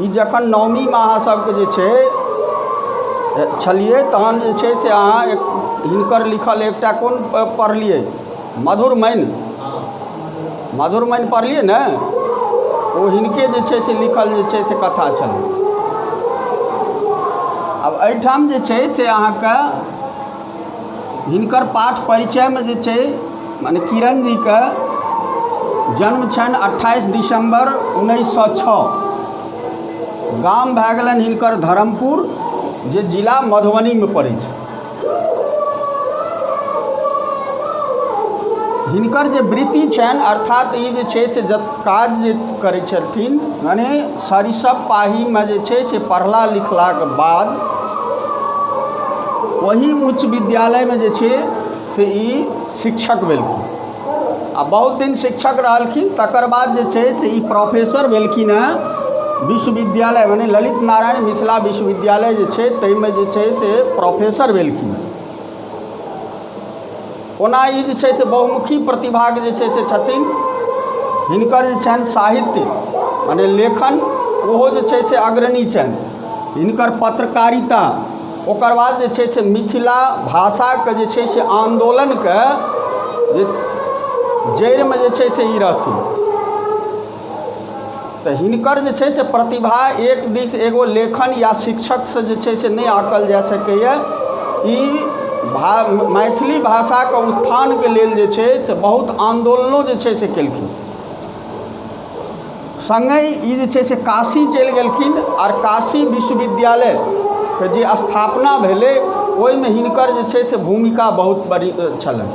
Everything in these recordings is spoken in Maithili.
ई जखन नवमीमे अहाँ सबके जे छै छलियै तहन जे छै से अहाँ हिनकर लिखल एकटा कोन पढ़लियै मधुरमैन मधुरमैन पढ़लियै ने ओ हिनके जे छै से लिखल जे छै से कथा छलै आब एहिठाम जे छै से अहाँके हिनकर पाठ परिचयमे जे छै मने किरण जीके जन्म छनि अट्ठाइस दिसम्बर उन्नैस सए छओ गाम भए गेलनि हिनकर धर्मपुर जे जिला मधुबनीमे पड़ै छै हिनकर जे वृत्ति छनि अर्थात ई जे छै से जब काज जे करै छथिन मने सरिसब पाहीमे जे छै से पढ़ला लिखलाके बाद ओही उच्च विद्यालयमे जे छै से ई शिक्षक भेलखिन आ बहुत दिन शिक्षक रहलखिन तकर बाद जे छै से ई प्रोफेसर भेलखिन हँ विश्वविद्यालय मने ललित नारायण मिथिला विश्वविद्यालय जे छै ताहिमे जे छै से प्रोफेसर भेलखिन ओना ई जे छै से बहुमुखी प्रतिभाक जे छै से छथिन हिनकर जे छनि साहित्य मने लेखन ओहो जे छै से अग्रणी छनि हिनकर पत्रकारिता ओकर बाद जे छै से मिथिला भाषाके जे छै से आन्दोलनके जे जड़िमे जे छै से ई रहथिन तऽ हिनकर जे छै से प्रतिभा एक दिस एगो लेखन या शिक्षकसँ जे छै से नहि आँकल जा सकैए ई भा मैथिली भाषाके उत्थानके लेल जे छै से बहुत आन्दोलनो जे छै से कयलखिन सङ्गहि ई जे छै से काशी चलि गेलखिन आओर काशी विश्वविद्यालयके जे स्थापना भेलै ओहिमे हिनकर जे छै से भूमिका बहुत बड़ी छलनि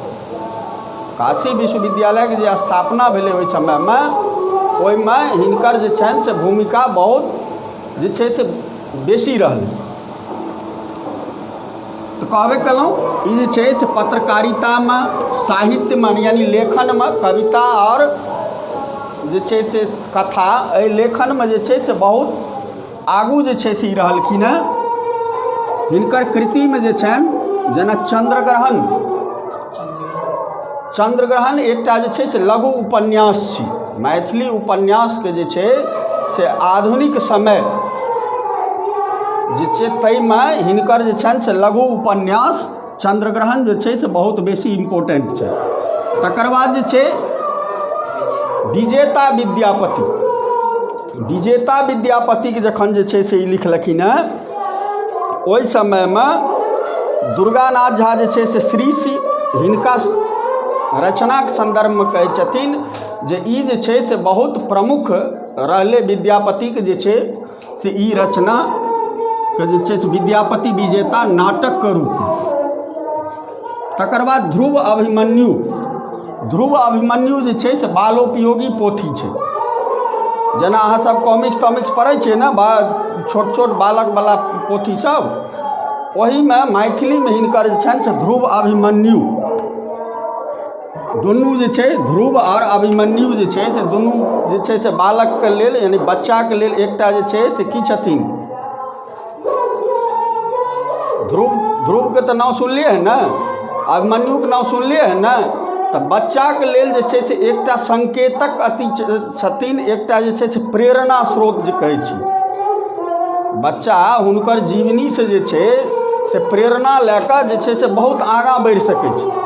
काशी विश्वविद्यालयके जे स्थापना भेलै ओहि समयमे ओहिमे हिनकर जे छनि से भूमिका बहुत जे छै से बेसी रहलै तऽ कहबे केलहुँ ई जे छै से पत्रकारितामे साहित्यमे यानी लेखनमे कविता आओर जे छै से कथा एहि लेखनमे जे छै से बहुत आगू जे छै से ई रहलखिन हेँ हिनकर कृतिमे जे छनि जेना चन्द्रग्रहण चन्द्रग्रहण एकटा जे छै से लघु उपन्यास छी मैथिली उपन्यासके जे छै से आधुनिक समय जे छै ताहिमे हिनकर जे छनि से लघु उपन्यास चन्द्रग्रहण जे छै से बहुत बेसी इम्पोर्टेंट छै तकर बाद जे छै विजेता विद्यापति विजेता विद्यापतिके जखन जे छै से ई लिखलखिन हेँ ओहि समयमे दुर्गानाथ झा जे छै से श्री सी हिनका रचनाके सन्दर्भमे कहै छथिन जे ई जे छै से बहुत प्रमुख रहलै विद्यापतिके जे छै से ई रचनाके जे छै से विद्यापति विजेता नाटकके रूपमे तकर बाद ध्रुव अभिमन्यु ध्रुव अभिमन्यु जे छै से बालोपयोगी पोथी छै जेना अहाँसभ कॉमिक्स तॉमिक्स पढ़ै छियै ने बा छोट छोट बालकवला पोथीसभ ओहीमे मैथिलीमे हिनकर जे छनि से ध्रुव अभिमन्यु दुनू जे छै ध्रुव आओर अभिमन्यु जे छै से दुनू जे छै से बालकके लेल यानि बच्चाके लेल एकटा जे छै से की छथिन ध्रुव ध्रुवके तऽ नाम सुनलियै हँ ने अभिमन्युके नाम सुनलियै हँ ने तऽ बच्चाके लेल जे छै से एकटा संकेतक अति छथिन एकटा जे छै से प्रेरणा स्रोत जे कहै छी बच्चा हुनकर जीवनीसँ जे छै से प्रेरणा लए कऽ जे छै से बहुत आगाँ बढ़ि सकै छै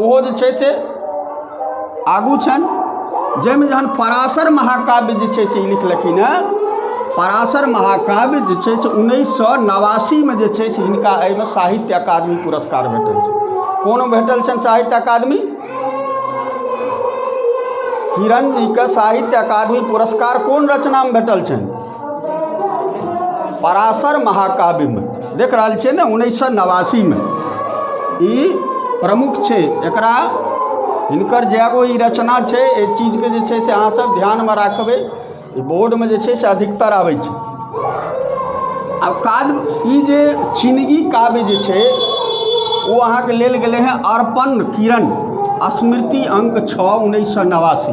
ओहो जे छै से आगू छनि जाहिमे जहन पराशर महाकाव्य जे छै से ई लिखलखिन हेँ पराशर महाकाव्य जे छै से उन्नैस सए नवासीमे जे छै से हिनका एहिमे साहित्य अकादमी पुरस्कार भेटल छनि कोनो भेटल छनि साहित्य अकादमी किरण जीके साहित्य अकादमी पुरस्कार कोन रचनामे भेटल छनि पराशर महाकाव्यमे देख रहल छियै ने उन्नैस सए नवासीमे ई प्रमुख छै एकरा हिनकर जे एगो ई रचना छै एहि चीजके जे छै से अहाँसभ ध्यानमे राखबै ई बोर्डमे जे छै से अधिकतर आबै छै आ काव्य ई जे चिनगी काव्य जे छै ओ अहाँके लेल गेलै हेँ अर्पण किरण स्मृति अंक छओ उन्नैस सए नवासी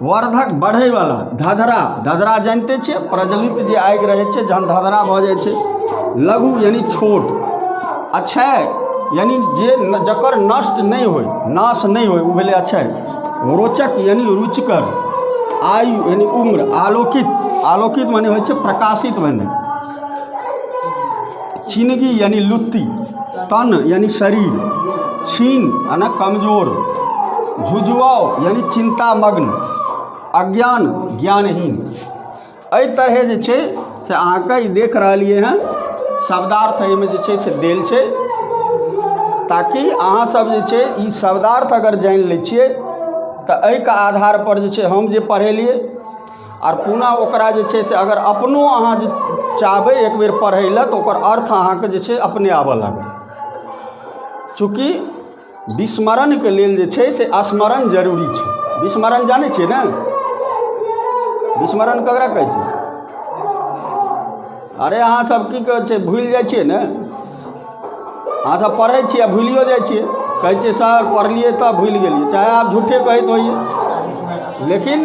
वर्धक बढ़यवला धधरा धधरा जानिते छियै प्रज्वलित जे आगि रहै छै जखन धधरा भऽ जाइ छै लघु यानि छोट अक्षय यानि जे न- जकर नष्ट नहि होय नाश नहि होय ओ भेलै अक्षय रोचक यानि रुचिकर आयु यानि उम्र आलोकित आलोकित मने होइ छै प्रकाशित भेनाइ चिनगी यानि लुत्ती तन यानि शरीर छीन यानि कमजोर झुझुआव यानि चिन्तामग्न अज्ञान ज्ञानहीन एहि तरहे जे छै से अहाँके ई देख रहलियै हँ शब्दार्थ एहिमे जे छै से देल छै ताकि अहाँसभ जे छै ई शब्दार्थ अगर जानि लै छियै तऽ एहिके आधारपर जे छै हम जे पढ़ेलियै आर पुनः ओकरा जे छै से अगर अपनो अहाँ जे चाहबै एक बेर पढ़य लेल तऽ ओकर अर्थ अहाँकेँ जे छै अपने आबय लागत चूँकि विस्मरणके लेल जे छै से स्मरण जरूरी छै विस्मरण जानै छियै ने विस्मरण ककरा कहै छै अरे अहाँसभ की कहै छै भूलि जाइ छियै ने अहाँसभ पढ़ै छियै आ भूलियो जाइ छियै कहै छियै सर पढ़लियै तऽ भूलि गेलियै चाहे आब झूठे कहैत होइए लेकिन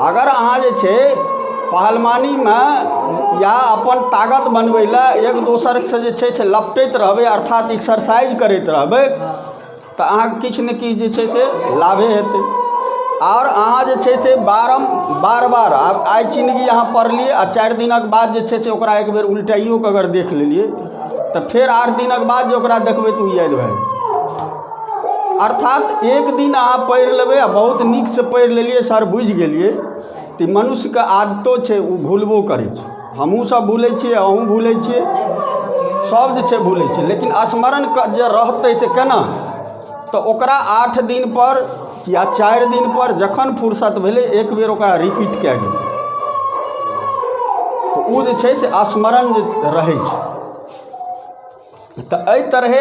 अगर अहाँ जे छै पहलवानीमे या अपन ताकत बनबै लए एक दोसरसँ जे छै से लपटैत रहबै अर्थात एक्सरसाइज करैत रहबै तऽ अहाँके किछु ने किछु जे छै से लाभे हेतै आओर अहाँ जे छै से बारम बार बार आब आइ चिन्हगी अहाँ पढ़लियै आ चारि दिनक बाद जे छै से ओकरा एक बेर उलटाइयो कऽ अगर देख लेलियै तऽ फेर आठ दिनक बाद जे ओकरा देखबै तऽ ओ याद भए जेतै अर्थात एक दिन अहाँ पढ़ि लेबै आ बहुत नीकसँ पढ़ि लेलियै सर बुझि गेलियै तऽ मनुष्यके आदतो छै ओ भुलबो करै छै हमहूँसभ भुलै छियै अहूँ भुलै छियै सभ जे छै भुलै छै लेकिन स्मरण क- जे रहतै से केना तऽ ओकरा आठ दिनपर या चारि दिनपर जखन फुर्सत भेलै एक बेर ओकरा रिपीट कए गेल तऽ ओ जे छै से स्मरण जे रहै छै तऽ एहि तरहे